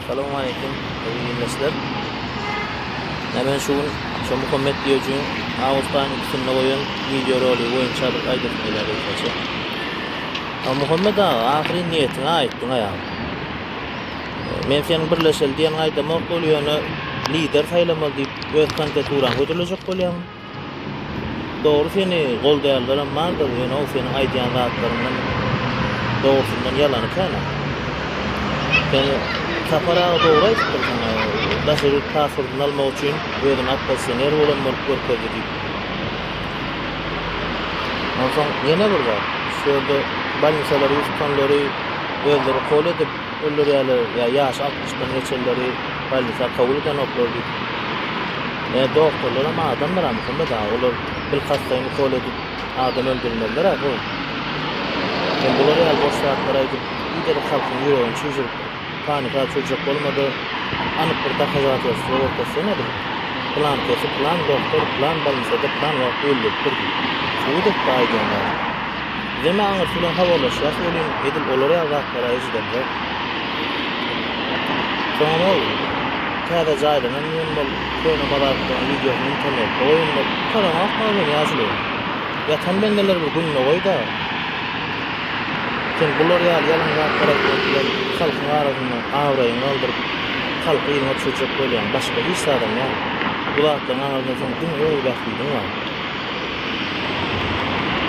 Salam aleýkum, hormatly ildeşler. Nämen şu gün şu Muhammet Diýojiň awgust aýynyň ikisinde goýan wideorolik boýunça bir aýdasym gelýär gysgaça. Ha Muhammet aga, ahyryn niýetiňe aýtdyň aýam. Men seniň birleşeli diýeniňi aýdamok bolýan, ýöne lider saýlamaly diýip öz kandidaturaňy hödürlejek bolýaň. Dogry seni goldaýanlaram bardyr ýöne-ow seniň aýdýan zatlaryňdan dogrusyndan ýalany kän ow. Sen Sapar aga dogry aýdypdyr saňa daşary ýurt pasportyny almak üçin özüni oppozisioner bolan bolup görkezdi diýip. Onsoň ýene bir zat şu ýerde bolnisalary tutanlary özleri kol edip Öller ýaly ýa ýaşy altmyşdan geçenleri bolnisa kabul edenoklar diýip. Ä doktorlaram adamdyra Muhammet aga olar bilkassaýyn ukol edip adam öldürmezlera bu Sen bular ýaly boş zatlar aýdyp biderek halkyň ýüregini çüwjürip panika çüwjek bolmada anyk bir dokazatelstwo görkezsene bir plankesi plan doktor plan bolnisada plan wagt öldüripdir diýip subut etde aýdýan zady. Deme aňyrsy bilen habarlaşýas welin edil olar ýaly zatlara eşidemzok. Soňam ol täze jaýlanan diýen bol köne bazarlyklaryň wideosyny internetde goýanda gutaranokmy ozal ýaşuly. Ýatan bendeler bir gününe goýda. Sen bular ýaly ýalan zatlar aýtmak bilen halkyň arasynda abraýyňy galdyryp halky yzyňa düşürjek bolýaň başga hiç zadam ýaly. Bu zatlaryň aňyrynda seň diňe öz bähbidiň bar.